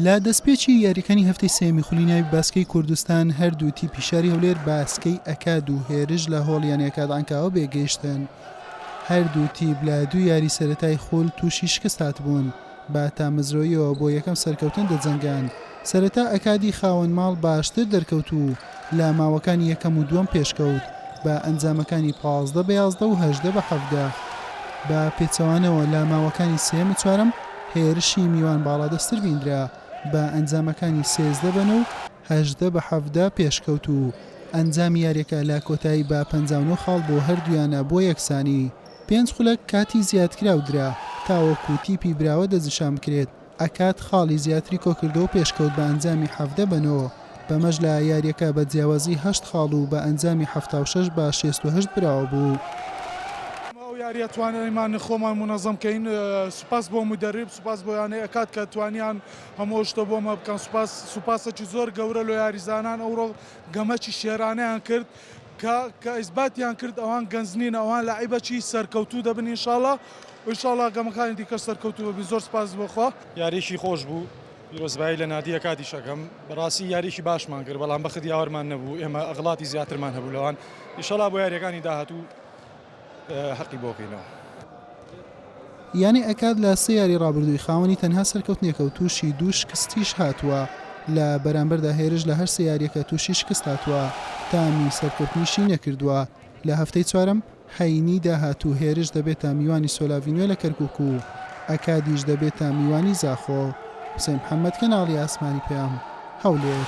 لە دەستپێکی یاریەکانی هەفتەی سێمی خولی ناوی باسکەی کوردستان هەردوو تیپی شاری هەولێر باسکەی ئەکاد و هێرش لە هۆڵ یانە کادانکاوە بێگەیشتن هەردوو تیپ لە دوو یاری سەتای خول تووشی شکست هاتبوون با تامەزرۆیەوە بۆ یەکەم سەرکەوتن دەجەنگان سەرەتا ئەکادی خاوەن ماڵ باشتر دەرکەوت و لە ماوەکانی یەکەم و دووەم پێشکەوت بە ئەنجامەکانی پازدە بە یازدە و هەژدە بە حەڤدە. بە پێچەوانەوە لە ماوەکانی سێیەم و چوارەم هێرشی میوان باڵادەستتر بیندرا بە ئەنجامەکانی سێزدە بە نۆ و هەژدە بە حەڤدە پێشکەوت و ئەنجامی یاریەکە لە کۆتایی بە پەنجا و نۆ خاڵ بۆ هەردوویانە بۆ یەکسانی پێنج خولەک کاتی زیادکراو درا تاوەکو تیپی براوە دەستنیشان بکرێت. ئەکات خاڵی زیاتری کۆکردووە و پێشکەوت بە ئەنجامی حەڤدە بە نۆ، بەمەش لە یارییەکە بە جیاوازی هەشت خاڵ و بە ئەنجامی حەفتا و شەش بە شێست و هەشت براوە بوو. ئەو یارییە توانیمان خۆمان مونەزەم کەین، سوپاس بۆ مودەریب، سوپاس بۆ یانەی ئەکات کە توانیان هەموو ئەو شتە بۆمە بکەن، سوپاس سوپاسێکی زۆر گەورە لۆ یاریزانان ئەوڕۆ گەمەکی شێرانەیان کرد، کە کە ئیسباتیان کرد ئەوان گەنج نین ئەوان لاعیبە چی سەرکەوتوو دەبن ان شاءاللە ان شاءاللە گەمەکانی دیکەش سەرکەوتوو ببی زۆر سپاس بۆ خوا. یاریەکی خۆش بوو پیرۆزبایی لە نادیە کادیش ئەکەم بەڕاستی یاریەکی باشمان کرد بەڵام بەخت یاوەرمان نەبوو ئێمە ئەغڵاتی زیاترمان هەبوو لەوان ئیشەڵا بۆ یاریەکانی داهاتوو هەقی بۆ بینەوە. یانە ئەکاد لە سێ یاری رابردووی خاوەنی تەنها سەرکەوتنێکە و تووشی دوو شکستیش هاتووە، لە بەرامبەردا هێرش لە هەر سێ یارییەکە تووشی شکست هاتووە، تامی سەرکەوتنیشی نەکردووە، لە هەفتەی چوارەم، هەینی، داهاتوو هێرش دەبێتە میوانی سۆلاڤی نوێ لە کەرکوک و ئەکادیش دەبێتە میوانی زاخۆ. حوسێن محەمەد، کەناڵی ئاسمانی پەیام، هەولێر.